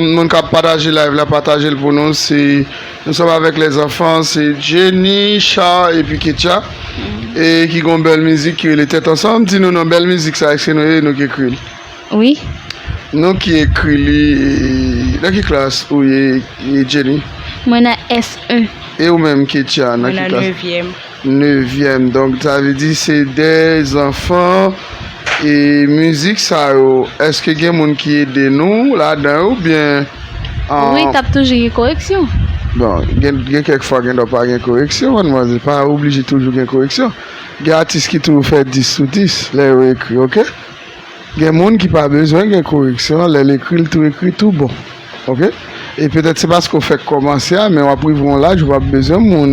Moun kap pataje live la patajel pou nou se Nou sòm avèk lè zanfan se Jenny, Char epi Ketya e ki gon bèl mizik ki rele tèt ansanm di nou non bèl mizik sa eske nou e nou ki ekri li? Wi. Nou ki ekri li nan ki klas ou ye Jenny? Mwen nan S1. E ou menm Ketya nan ki klas? Mwen nan 9 yèm. Nevyèm donk sa vle di se de zanfan e mizik sa yo eske gen moun ki ede nou ladan yo oubyen wi tap toujou gen koreksyon bon gen kèk fwa gen do pa gen koreksyon manmzè pa oblije toujou gen koreksyon gen atis ki toujou fè 10 sou 10 lè yo ekri ok gen moun ki pa bezwen gen koreksyon lèl ekri l tou ekri tou bon. Ok e petèt se paske ou fèk kòmanse a men wap rive yon laj ou pap bezwen moun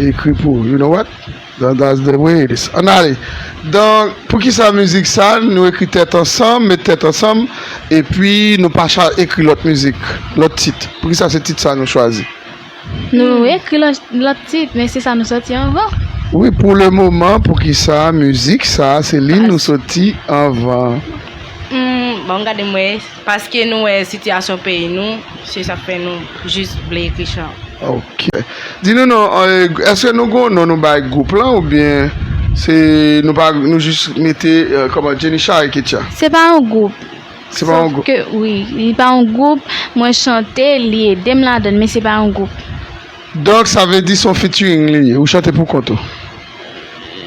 ekri pou ou you know what that's the way it is ann ale donk poukisa mizik sa nou ekri tèt ansanm met tèt ansanm epi nou pa ekri lòt mizik lòt tit poukisa se tit sa nou chwazi. Nou ekri lòt tit men se sa nou sòti anvan. Wi pou le moman poukisa mizik sa se li nou sòti anvan. Banm gade m wè. Paske nou wè sitiyasyon peyi nou se sak fè nou jis vle ekri chan. Ok di nou non eske nou gon non nou bay gwoup lan oubyen se nou pa nou jis mete kòman Jenny Charicutya. Se pa yon gwoup. Se pa yon gwoup. Sof ke wi, li pa yon gwoup, mwen chante, li ede m ladan l, men se pa yon gwoup. Donk sa vle di se yon featuring li ye, ou chante pou kont ou?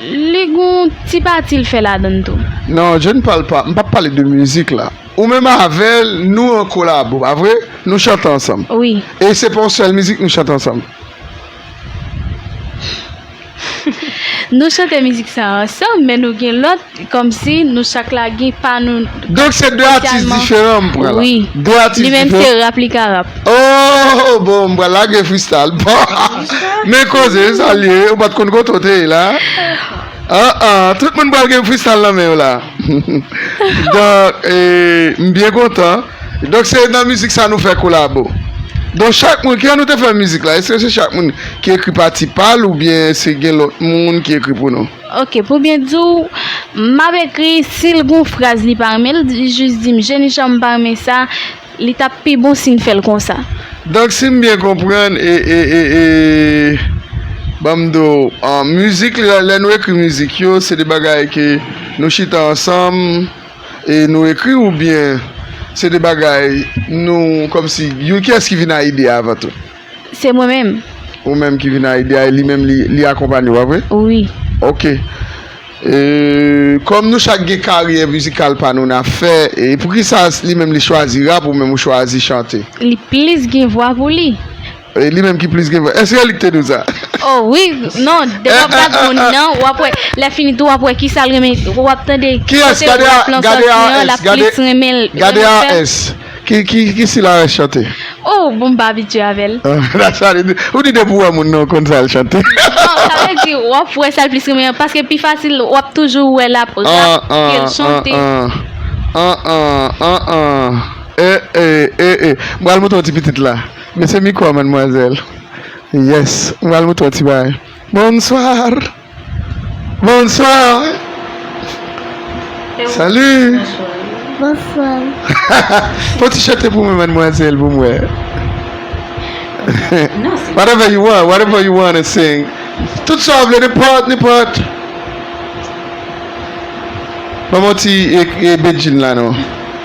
Li gen yon ti pati l fè ladan l tou. Non, je ne parle pas, m pap pale de mizik la. Ou menm avè l, nou an kolabo, pa vre? Nou chante ansanm. Wi. E se pa yon sèl mizik nou chante ansanm? Nou chante mizik sa ansanm men nou gen lòt kòmsi nou chak la gen pa nou spesyalman. Donk se 2 atis diferan m pran la. Wi. 2 atis diferan. Li menm se rap li ka rap. Ooh bon m pral lage freestyle men koze sa l ye ou pat konn kote w te ye la aa tout moun pral gen freestyle nan men yo la donk m byen kontan. Donk se nan mizik sa nou fè kolabo. Donk chak moun, kijan nou te fè mizik la? Eske se chak moun ki ekri pati pa l oubyen se gen lòt moun ki ekri pou nou? Ok, pou byen di w, m ap ekri, si l gen yon fraz li pa renmen, l jis di m, Jenichon m pa renmen sa, li t ap pi bon si n fè l konsa. Donk si m byen konprann, ban m di w, mizik, lè nou ekri mizik yo, se de bagay ke nou chita ansanm, e nou ekri ou byen se de bagay nou kòm si you kiyès ki vin a ide a avan tou? Se mwen menm. Ou menm ki vin a ide a e li menm li akonpanye ou pa vre? Wi. Ok. E kòm nou chak gen karyè mizikal pa nou na fè e poukisa li menm li chwazi rap ou menm ou chwazi chante? Li plis gen vwa pou li. E li menm ki plis gen vwa. Eske li k te di w sa? O wi, non, depi w ap gad moun nan, w ap wè, lè fini tou w ap wè ki sa l renmen, w ap tande ki kote rap lan sòti an, l ap plis renmen l. Gade AS, ki sila AS chante? O, bon m pa abitye avè l. Dat sa li di, ou di depi w wè moun nan ou konn sa l chante. Non, sa vle di w ap wè sa l plis renmen an, paske pi fasil w ap toujou wè l ap rap ke l chante. An an, an an, an an, e e, e e, m pral montre w ti pitit la. Mesi micro a mademoiselle. Yes m pral moutre w ti bagay. Bonsoir Bonsoir Salut Bonsoir Fon ti chante pou mwen mademoiselle pou m wè Whatever you want Whatever you want to sing Tout sa w vle nenpòt nenpòt Ban mwen yon ti Bedjine la non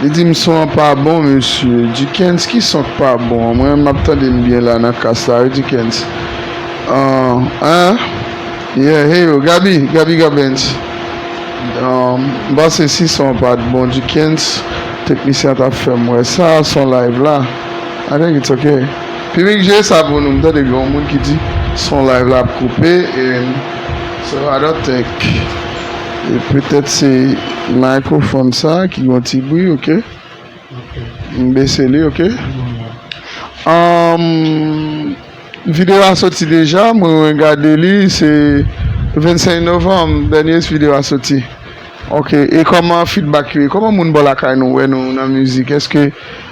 Li dim son an pa bon mesye. Dukens ki son k pa bon an mwen menm map tande m byen la nan kas la wi Dukens ahh ahh yeah heyoo Gaby Gaby Gabens ahh m panse si son an pat bon Dukens teknisyen an tap fèm wè sa son live la I think it's ok Piblik jee sa pou nou m tande gen yon moun ki di son live la ap koupe and so I don't think. E petèt se microphone sa ki gon ti bri ok. M bese li ok. Video a soti deja mwen gade li se 25 Novanm dènye video a soti. Ok e kòman feedback yo ye? Kòman moun bò lakay nou wè nou nan mizik? Eske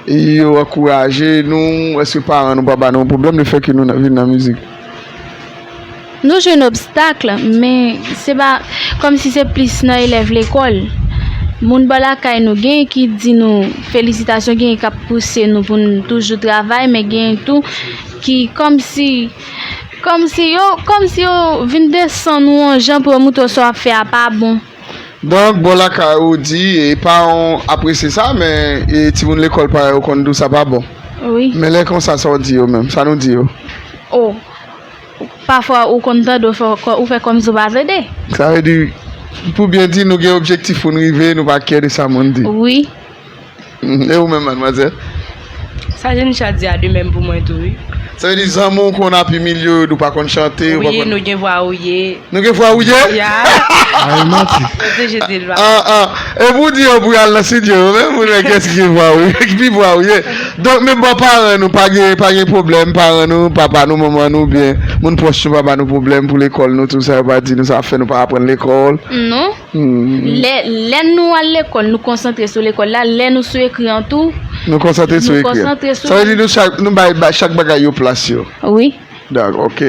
yo ankouraje nou? Eske paran nou pa ba nou pwoblèm le fè ke nou vin nan mizik? Nou jwenn obstakl men se pa kòm si se plis nan elèv lekòl. Moun bò lakay nou genyen ki di nou felisitasyon genyen kap pouse nou pou nou toujou travay men genyen tou ki kòm si kòm si yo kòm si yo vin desann ou an jan pou yo montre w sa w ap fè a pa bon. Donk bò lakay ou di paran w apresye sa men timoun lekòl parèy ou konn di w sa pa bon men lè konsa sa w di yo menm sa nou di yo o pafwa ou konn tande w fè ou fè kòmsi w pa tande sa vle di pou byen di nou gen objektif pou n rive nou pa kè de sa moun di wi E ou menm madmwazèl? Sa Jenichat di a de menm pou mwen tou wi. Sa vle di zanmi w konn ap imilye w yo di w pa konn chante. Wi nou gen vwa ouye. Nou gen vwa ouye? Ya. A e manti. Yo te jete l pa. An an. E pou w di yo pou yo al nan studio yo menm pou nou wè kiyès ki gen vwa ouye ki pi vwa ouye. Donk menm bò paran nou pa gen pa gen pwoblèm paran nou papa nou manman nou oubyen moun pwòch nou pa ba nou pwoblèm pou lekòl nou tou sa yo pa di nou sa ap fè nou pa aprann lekòl? Non. Lè nou al lekòl, nou konsantre sou lekòl la, lè nou sou ekri an tou, nou konsantre sou ekri an. Nou konsantre sou. Sa vle di nou bay chak bagay yo plas yo. Wi. Dako, ok.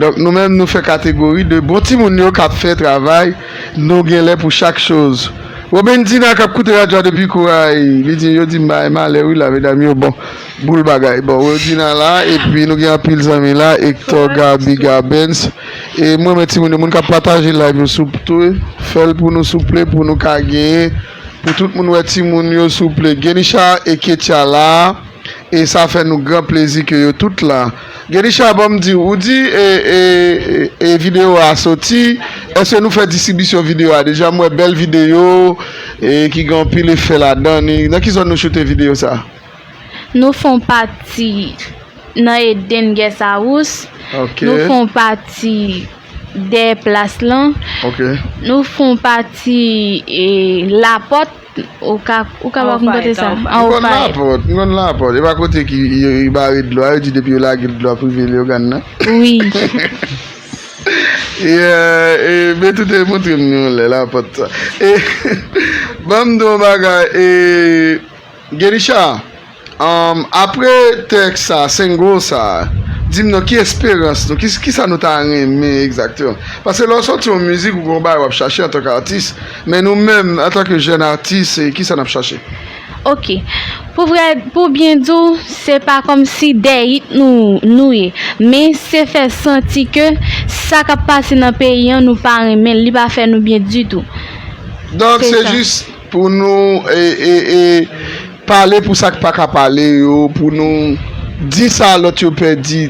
Donk nou menm nou fè kategori de bon timoun yo k ap fè travay, nou gen lè pou chak choz. Robendina k ap koute radyo a depi Koray, li di yo di m bay malè wi la medam yo bon. Boul bagay bon Werdina la epi nou gen anpil zanmi la Hector Gaby Gabens e m renmen timoun yo moun kap pataje live yo souple fèl pou nou souple pou nou ka gen pou tout moun wè timoun yo souple Genisha e Ketia la e sa fè nou gran plezi ke yo tout la Genisha banm diw ou di e video a soti eske nou fè distribisyon video a deja m wè bèl video e ki gen anpil efè ladan li nan ki zòn nou choute video sa. Nou fon pati nan Eden Guesarous, nou fon pati dè plas lan, nou fon pati lapòt, ou ka ba m kote sa? M konn lapòt, m konn lapòt. E pa kote ki yo bare dlo a, yo di depi yo lage dlo a prive Leyogàn nan? Wi. E Betou te montre m yon lè lapòt sa. E ban m di w yon bagay e. Gelisha, Humm apre tèks sa, single sa, dim non ki esperans nou, kisa nou ta renmen egzakteman? Paske lè w sòti yon mizik ou gen yon bagay wap chache antanke atis, men nou menm antanke jèn atis kisa nap chache? Ok, pou vrè pou byen di w se pa kòmsi dè it nou nou ye, men se fè santi ke sa kap pase nan peyi an nou pa renmen l, li pa fè nou byen ditou. Donk se jis Pou nou pale pou sa k pa ka pale yo, pou nou di sa lòt yo pè di,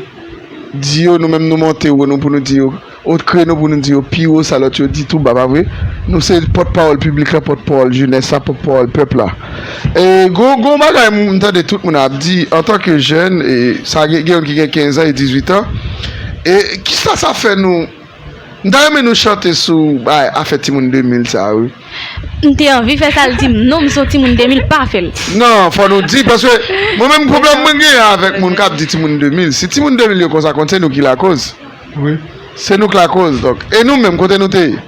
di yo, nou menm nou monte wo nou pou nou di yo, o kreno pou nou di yo pi wo sa lòt yo di tou ba, pa vre? Nou se pòt pawòl piblik la, pòt pawòl jenès la, pòt pawòl pèp la. E gon yon bagay m tande tout moun ap di antan ke jèn, sa gen yon ki gen 15 an e 18 an, e kisa sa fè nou M ta renmen nou chante sou bay afè timoun 2000 sa wi. M te anvi fè sa l di m non m son timoun 2000 pa fè l. Non fò nou di paske mwen menm pwoblèm mwen gen avèk moun kap di timoun 2000 si timoun 2000 yo konsa konn se nou ki lakoz wi se nou k lakoz donk e nou menm kote nou te ye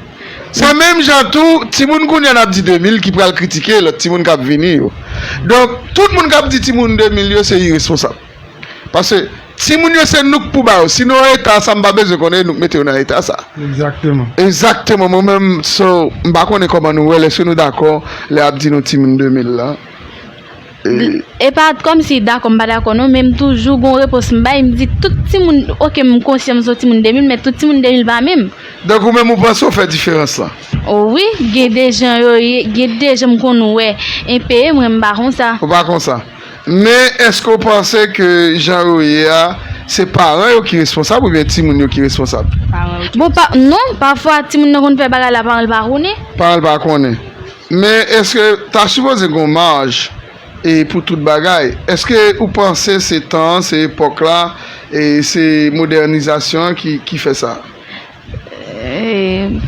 se menm jan tou timoun kounya nap di 2000 ki pral kritike lòt timoun kap vini yo donk tout moun kap di timoun 2000 yo se iresponsab. Paske timoun yo se nou k pou ba yo. Si nou an eta sa m pa bezwen konnen nou k mete yo nan eta sa. Egzakteman. Egzakteman mwen menm so m pa konnen kòman nou wèl èske nou dakò lè ap di nou timoun 2000 la e. E pa kòm si dakò m pa dakò non men m toujou gon repons m bay m di tout timoun ok m konsyan m son timoun 2000 men tout timoun 2000 pa menm. Donk ou menm ou panse ou fè diferans la. O wi gen de jan yo ye gen de jan m konn wè enpe mwen m pa konsa. Ou pa konsa. Men eske ou panse ke jan yo ye a se paran yo ki responsab oubyen timoun yo ki responsab? Paran yo ki responsab. Bon, non, pafwa timoun nan konn fè bagay la paran l pa konnen. Paran l pa konnen. Men eske ta sipoze gen yon maj e pou tout bagay? Eske ou panse se tan an, se epòk la, se modènizasyon an ki fè sa?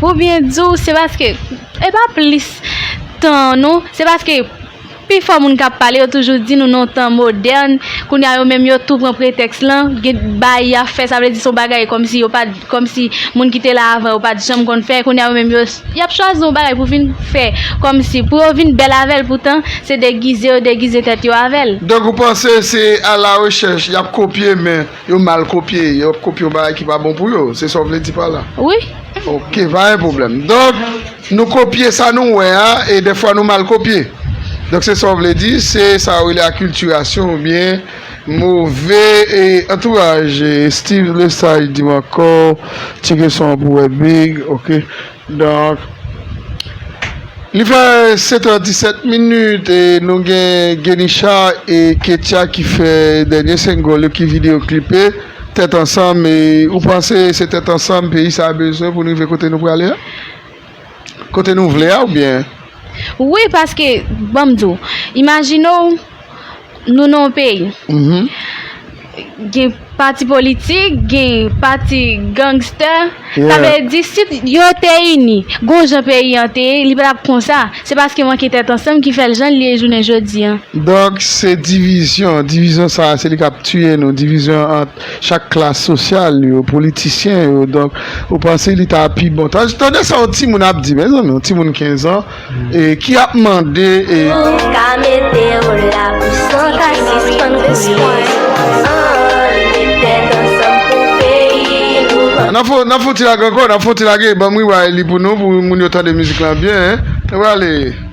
Pou byen di w, se paske, e pa plis tan non, se paske pi fò moun k ap pale yo toujou di nou nan tan modèn, kounye a yo menm yo tou pran pretèks lan, gen bagay y ap fè, sa vle di se yon bagay kòmsi yo pa, kòmsi moun ki te la avan yo pa t janm konn fè, kounye a yo menm yo, y ap chwazi yon bagay pou vin fè, kòmsi pou yo vin bèl avè l poutan se degize yo degize tèt yo avè l. Donk ou panse se alarechèch y ap kopye men Yo mal kopye, yo ap kopye yon bagay ki pa bon pou yo, se sa w vle di pa la? Wi. Ok, pa gen pwoblèm. Donk, nou kopye sa nou wè a, e dèfwa nou mal kopye. Donk, se sa w vle di, se sa yo rele akiltirasyon oubyen move e antouraj. Steve Lesage di m ankò, Tire son an pou Webig, ok. Donk, li fè 7 è 17 minit e nou gen Genisha e Ketia ki fè dènye 5 gòl yo ki video klipe, tèt ansanm e ou panse se tèt ansanm peyi sa bezwen pou n rive kote nou prale a? Kote nou vle a oubyen? Wi paske banm di w imajine w nou nan yon peyi gen pati politik gen pati gangster sa vle di si yo te ini gon jan peyi an te ye li pa tap konsa se paske manke tèt ansanm ki fè l jan l ye jounen jodi an. Donk se divizyon, divizyon sa se li kap tiye nou divizyon ant chak klas sosyal yo, politisyen yo donk ou panse li ta pi bon ta tande sa yon timoun ap di mezanmi yon timoun 15 an ki ap mande e. Nap fon nap fon ti lage ankò nap fon ti lage banm wi wayli pou nou pou moun yo tande mizik lan byen e wale.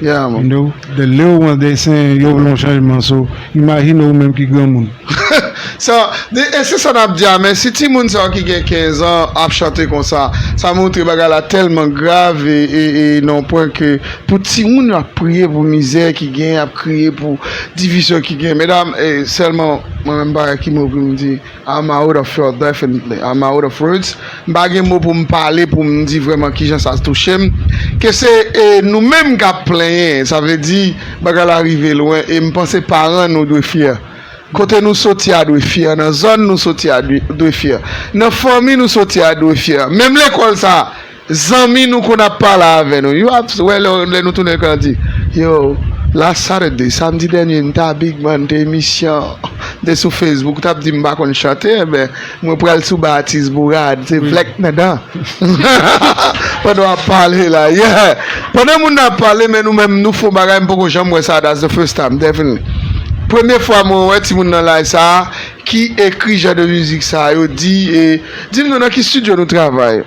Dè lè ou an desen yo vle yon chanjman so imajine ou menm ki granmoun. Sa, e se sa nap di a men si timoun sa yo ki gen 15 an ap chante konsa sa montre bagay la tèlman grav e nan yon pwen ke pou timoun yo ap priye pou mizè ki gen, ap kriye pou divizyon ki gen medam e sèlman mwen menm m pa wè ki mo pou m di. I'm out of words definitely I'm out of words m pa gen mo poum pale poum di vrèman kijan sa touchem ke se nou menm kap plenyen sa vle di bagay la rive lwen e m panse paran nou dwe fyè kote nou soti a dwe fyè nan zòn nou soti a dwe fyè nan fanmi nou soti a dwe fyè menm lekòl sa Zanmi nou konn ap pale avè nou yo ap wè lè nou tounen kan di yo la Saturday samdi dènye m ta big man te emisyon te sou Facebook ou tap di m pa konn chante enben mwen pral sou ba atis bourad se vlèk nan dan pandan wap pale la yeah pandan moun nan ap pale men nou menm nou fon bagay m poko janm wè sa that's the first time definitely premye fwa mwen wè timoun nan laj sa ki ekri jan de mizik sa yo di e di m non nan ki studio nou travay.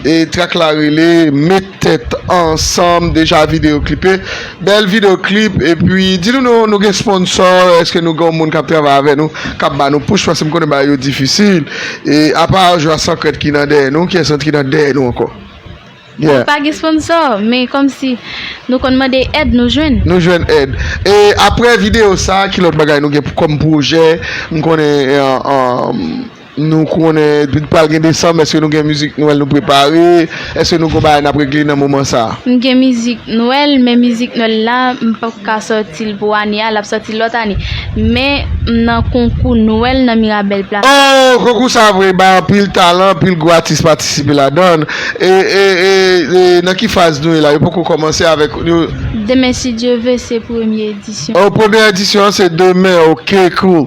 E track la rele met tèt ansanm deja video klipe bèl video klip epi di nou nou nou gen sponsor eske nou gen yon moun kap travay avè nou kap ba nou push paske m konnen bagay yo difisil e apa jwa sankrèt ki nan dèyè nou kiyès lòt ki nan dèyè nou ankò yeah. Nou pa gen sponsor men kòmsi nou konn mande èd nou jwenn. Nou jwenn èd e aprè video sa ki lòt bagay nou gen kòm pwojè m konnen. Nou konnen li pral gen desanm eske nou gen mizik nwèl nou prepare eske nou gon bagay nap regle nan moman sa. M gen mizik nwèl men mizik nwèl la m pap ka sòti l pou ane a lap sòti lòt ane men m nan konkou nwèl nan mirabel plaza. Oh konkou sa vre bay anpil talan anpil gwo atis patisipe ladann e e nan ki faz nou ye la yo poko kòmanse avèk yo. Demen si Dye ve se premye edisyon. Oh premye edisyon an se demen ok cool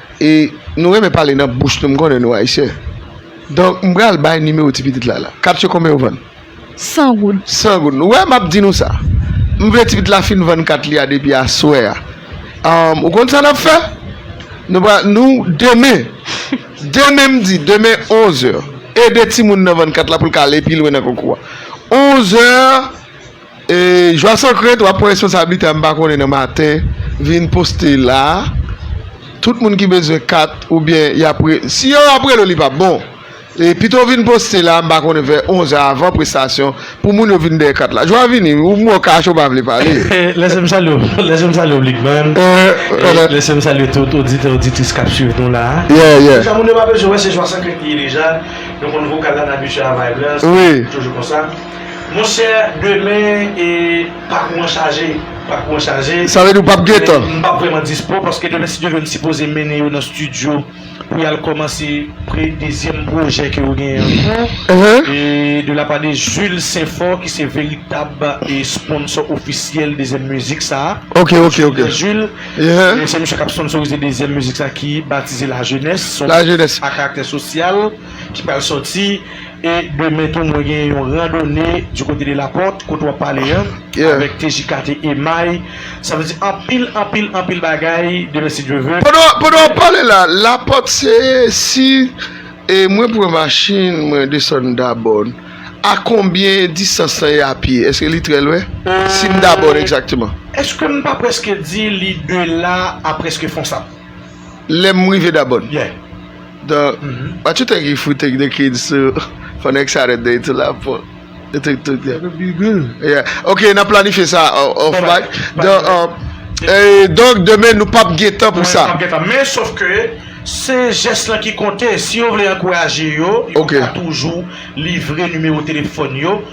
E nou renmen pale nan bouch nou m konnen nou ayisyen donk m pral bay nimewo ti pitit la la kapsye konbyen ou vann? San goud. San goud ou wè m ap di nou sa m vle ti pitit la fin vann kat li a depi aswè a anm ou konn sa n ap fè nou pral nou demen demen m di demen onzè ede timoun nan vann kat la pou l ka ale pi lwen nan konkou a onzè Joisson Crete wap pran responsablite a m pa konnen nan maten vin poste la tout moun ki bezwen kat oubyen yap si yo ap rele w li pap bon pito w vin poste la m pa konnen vè 11 è avan prestasyon pou moun yo vin dèyè kat la jwa vini wi ou mò kache ou pa vle pale. Lèse m salye w lèse m salye w Blik Bann lèse m salye tout oditè oditris kap swiv nou la deja moun yo pa bezwen wè se Joisson Crete li ye deja nou konn vokal la n abitye a vibe la se toujou konsa. Monchè demen e pakou mwen chaje, pakou mwen chaje. Sa vle di ou pap gen tan? Men m pap vrèman dispo paske demen si Dye vle m sipoze mennen yo nan studio pou yal kòmanse pre dezyèm pwojè ke yo genyen an kou e de la pa de Jules Sainfort ki se veritab e sponsò ofisyèl dezyèm mizik sa a. Ok ok ok. Jules Jules e se misye kap sponsorize dezyèm mizik sa ki batize la jenès son mizik a karaktè sosyal ki pral sòti. E demen tou mwen gen yon randone du côté de la porte kote wap pale an avèk TJKT Emay sa vle di anpil anpil anpil bagay demen si Dye ve. Pandan wap pale la la porte se si mwen pran machin mwen desann dabòn a konbyen distans lan ye a pye eske li trè lwen sim dabòn egzakteman. Eskem pa preske di li de la a preske fonsab. Lè m rive Dabòn. The What you think if we take the kids to for next Saturday to La Porte? You think to That would be good. Yeah. Ok, n ap planifye sa off mic. The Donk demen nou p ap gen tan pou sa. Men sof ke se jès lan ki konte. Si yo vle ankouraje yo, yo ka toujou livre nimewo telefòn yo.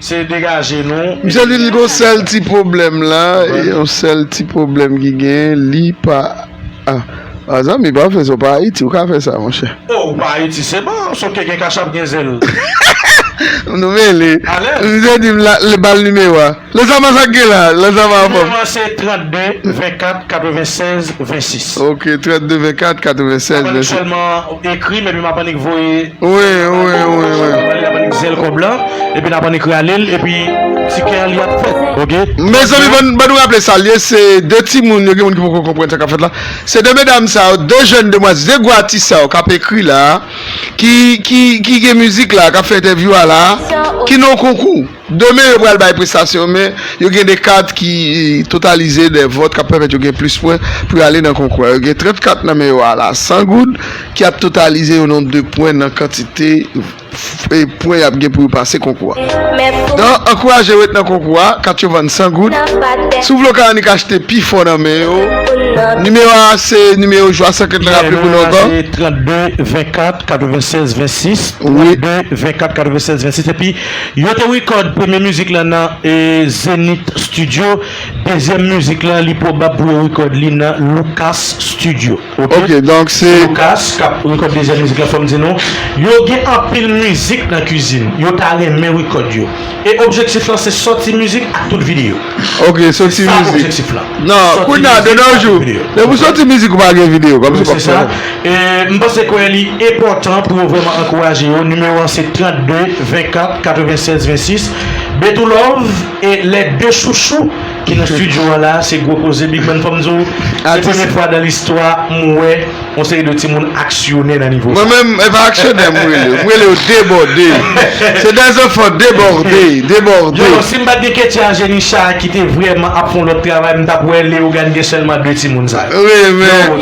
Se degaje nou. Misye di li gon sèl ti pwoblèm la, yon sèl ti pwoblèm ki gen, li pa Ah zanmi pa fè sa ou pa Ayiti ou ka fè sa monchè. Oh ou pa Ayiti se bon, sauf ke gen kachap gen zèl. Nou mele. Misye di m la bal nimewo a. Lezama sa gen la, lezama anfòm. Nimewo an se 32 24 96 26. Ok 32 24 96 26. Ekri m epi m ap annik voye zèl kòb la epi n ap annik rale l epi ti kè a li ap fèt ok. Mezanmi bann nou raple sa l ye se 2 timoun yo gen moun ki poko konprann sa k ap fèt la se 2 medam sa yo 2 jèn demwazèl 2 gwo atis sa yo k ap ekri la ki gen mizik la k ap fè entèvyou a la ki nan yon konkou. Demen yo pral bay prestasyon men yo gen 2 kat ki totalize 2 vòt k ap pèmèt yo gen plis pwen pou yo ale nan konkou a. Yo gen 30 kat nan men yo ala 100 goud ki ap totalize yon nonb de pwen nan kantite pwen y ap gen pou yo pase konkou a. Nan ankouraje yo ret nan konkou a, kat yo vann 100 goud. Si w vle w ka annik achte pi fò nan men yo. Nimewo a se nimewo jwa sa kèt la raple pou nou ankò. Nimewo a se 32 24 96 26, 32 24 96 26 epi. Yo te record premye mizik lan nan Zenith Studio, dezyèm mizik lan li pwobab pou yo record li nan Lucas Studio ok. Ok donk se. Lucas kap record dezyèm mizik lan fòm di nou yo gen anpil mizik nan kizin yo ta renmen record yo e objektif lan se sòti mizik ak tout video. Ok sòti mizik nan kounya de nos jours depi w sòti mizik ou pa gen video kòmsi kòmsi. M panse kwè li enpòtan pou yo vrèman ankouraje yo, nimewo 1 se 32 24 96 26 Betoo love e lè 2 chouchou ki nan studio an la se gwo koze Big man fòm diw se premye fwa dan listwa m wè yon seri de timoun aksyonè nan nivo sa. Mwen menm e pa aksyonè m rele, m rele yo debòde se de zanfan debòde, debòde. Yo si m pat gen Ketia Jenichat ki te vrèman ap fon lòt travay m tap wè Leogane gen sèlman 2 timoun sa yo. Wi men.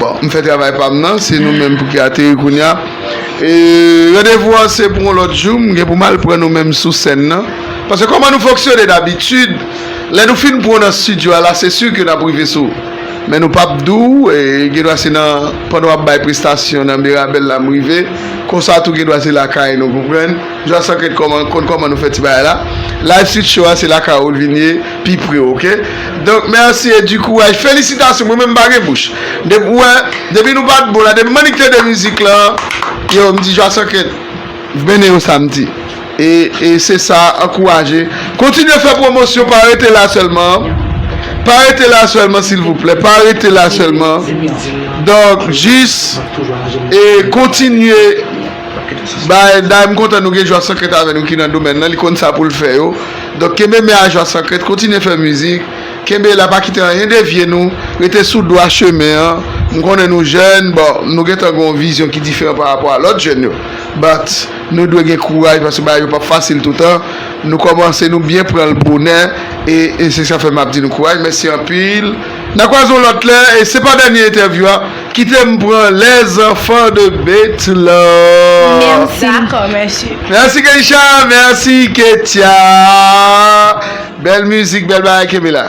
Bon, m fè travay pa m nan, se nou menm pou ki ateri kounye a. Randevou an se pou yon lòt jou, m gen pou m al pran nou menm sou sèn nan. Paske kòman nou fonksyone dabitid, lè nou fin pran w nan stidyo a la, se si ke n ap rive sou ou. Men nou p ap di w, gendwa se nan pandan w ap bay prestasyon nan Mirabel la m rive, konsa tou gendwa se lakay nou, konprann? Jwasanket konn kòman nou fè ti bagay la. Live Street Show a se lakay ou l vin ye. pi pre ok donk merci e du courage felisitasyon mwen menm m pa gen bouch depi ou wè depi nou pat bon la depi manik tande mizik lan yow m di jwason ke bndye yon samdi e e se sa ankouraje kontinye fè pwomosyon pa rete la sèlman pa rete la sèlman silvouplè pa rete la sèlman donk jis e kontinye bay day m kontan nou gen jwason ke t avè nou ki nan domèn lan li konn sa poul fè yo. Donk kenbe men a jwa san krent kontinye fè mizik kenbe la pa kite anyen devye nou rete sou dwa chemen an m konnen nou jèn bon nou gentan gen yon vizyon ki diferan pa rapò a lòt jèn yo but nou dwe gen kouraj paske bagay yo p ap fasil toutan nou kòmanse nou byen pran l bonè e se sa fè m ap di nou kouraj mèsi anpil n a kwaze yon lòt lè e se pa dènye entèvyou a. Kite m pran les enfants de Bethlehem. D'accord Monsieur. Merci Keisha, merci Ketia. Bèl mizik, bèl bagay kenbe la.